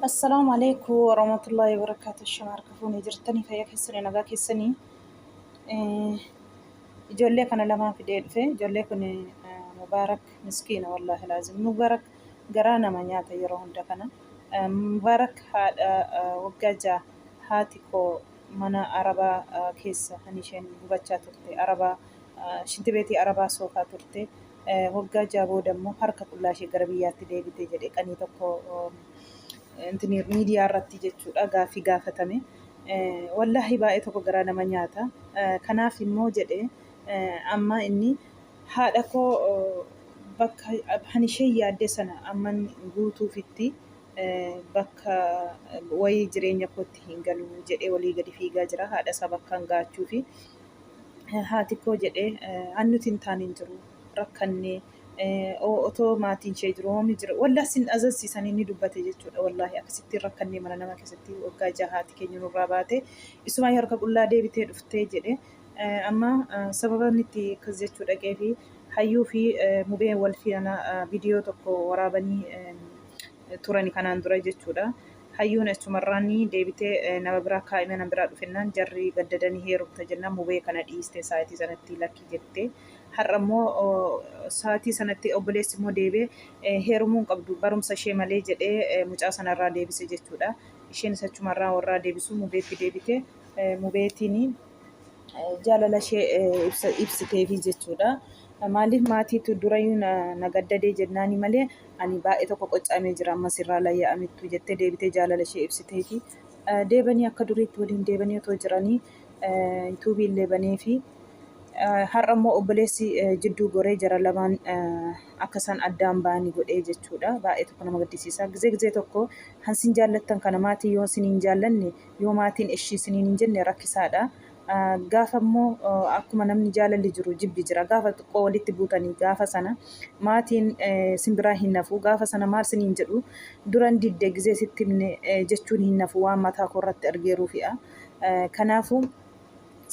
Assalaamu alaikum warahmatullahi wabarakatuh shama harka fuune jirtanii fayya keessanii nagaa keessanii ijoollee kana lamaa fidee dhufe ijoollee kun mubaarak miskiina wallaahi laazim mubaarak garaa nama nyaata yeroo hunda kana mubaarak haadha waggaa ja'a haati koo mana arabaa keessa kan isheen gubachaa turte arabaa shinti beetii arabaa soofaa turte waggaa ja'a booda immoo harka qullaa ishee gara biyyaatti deebite jedhe qanii tokko miidiyaa irratti jechuudha gaaffii gaafatame. Wallaahi baay'ee tokko garaa nama nyaata. Kanaaf immoo jedhe amma inni haadha koo bakka kan ishee yaadde sana amman guutuufitti bakka wayii jireenya kootti hin galu jedhee walii gadi fiigaa jira haadha isaa bakkaan ga'achuufi. haati koo jedhee an nuti hin taane hin jiru rakkannee otoo maatiin ishee jiru hoomni jira wallah sin azazsiisan inni dubbate jechuudha wallaahi akkasittiin rakkannee mana nama keessatti waggaa jaha haati keenya nurraa baate isumaa harka qullaa deebitee dhuftee jedhe amma sababa inni itti akkas jechuu dhaqee fi hayyuu fi mubee wal fiana viidiyoo tokko waraabanii turani kanaan dura jechuudha. Hayyuun achumarraani deebitee nama biraa kaa'ime nama biraa dhufennaan jarri gaddada ni heerumta jennaan mubee kana dhiiste saatii sanatti lakki jette. Har'a immoo saatii sanatti obboleessi immoo deebi'ee heerumuu hin qabdu barumsa ishee malee jedhee mucaa sana irraa deebise jechuudha. Isheenis achumarraa warraa deebisuu mubeetti deebite. Mubeetiin. jaalala ishee ibsiteefi jechuudha. Maaliif maatiitu durayyuu na gaddadee jennaani malee ani baay'ee tokko qoccamee jira amma sirraa layya'amittu jettee deebitee jaalala ishee ibsiteefi. Deebanii akka duriitti waliin deebanii otoo jiranii yuutuubii illee baneefi. Har'a immoo obboleessi jidduu goree jara lamaan akka isaan addaan ba'anii godhee jechuudha. Baay'ee tokko nama gaddisiisa. Gizee gizee tokko kan sin jaallattan kana maatii yoo sin hin jaallanne Yoo maatiin eshi isiniin hin jenne rakkisaadha. Gaafa immoo akkuma namni jaalalli jiru jibbi jira. Gaafa xiqqoo walitti buutanii gaafa sana maatiin sin biraa hin hafu. Gaafa sana maal siniin jedhu duran didde gizee sitti himne jechuun hin hafu waan mataa koo irratti argeeruu fi'a. Kanaafuu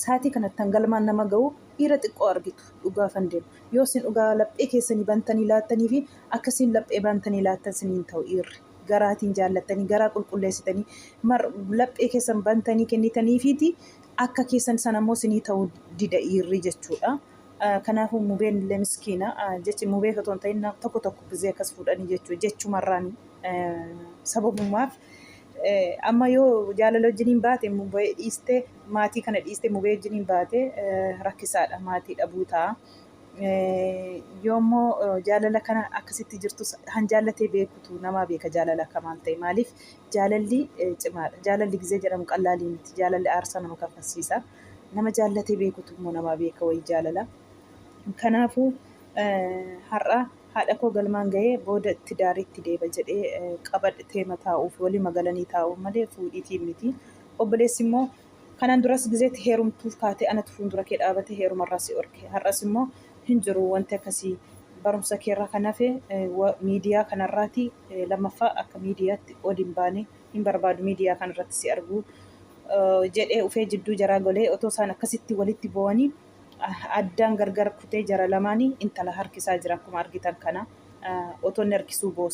saatii kanattan galmaan nama ga'u dhiira xiqqoo argitu dhugaafan deemu. Yoo sin dhugaa laphee keessanii bantanii laattanii fi akkasiin laphee bantanii laattan siniin ta'u dhiirri. garaatiin jaallattanii garaa qulqulleessitanii mar laphee keessan bantanii kennitaniifiiti akka keessan san ammoo sinii ta'uu dida dhiirri jechuudha. Ah, Kanaafuu mubeen illee miskiina ah, jechi mubee otoo hin ta'in na- tokko tokko gizee akkas fuudhanii jechuu jechumarraan eh, sababumaaf eh, amma yoo jaalala wajjiniin baate mubee dhiiste maatii kana dhiiste mubee wajjiniin baate eh, rakkisaadha maatii dhabuu ta'a. Yoo immoo jaalala kana akkasitti jirtus kan jaallatee beekutu namaa beeka jaalala akka maal ta'e maaliif jaalalli cimaadha. Jaalalli gizee jedhamu qallaalii miti. Jaalalli aarsaa nama kaffalsiisa. Nama jaallatee beekutu immoo namaa beeka wayii jaalala. Kanaafuu har'a haadha koo galmaan ga'ee booda tidaariitti deeba jedhee qabadhee taa'uuf walii magalanii taa'uuf malee fuudhiitiin miti. Obboleessi immoo Kanaan duras gizee itti heerumtuuf kaate anatu fuundura kee dhaabate heeruma irraa si dhorke. Har'as immoo hin jiru wanti akkasii. Barumsa kee irraa kan hafe miidiyaa kana irraati. Lammaffaa akka miidiyaatti ol hin baane. Hin barbaadu miidiyaa kana irratti si arguu. jedhee ufee jidduu jaraa golee otoo isaan akkasitti walitti boo'anii addaan gargar kutee jara lamaanii intala harkisaa jira akkuma argitan kana. Otoo inni harkisuu boosse.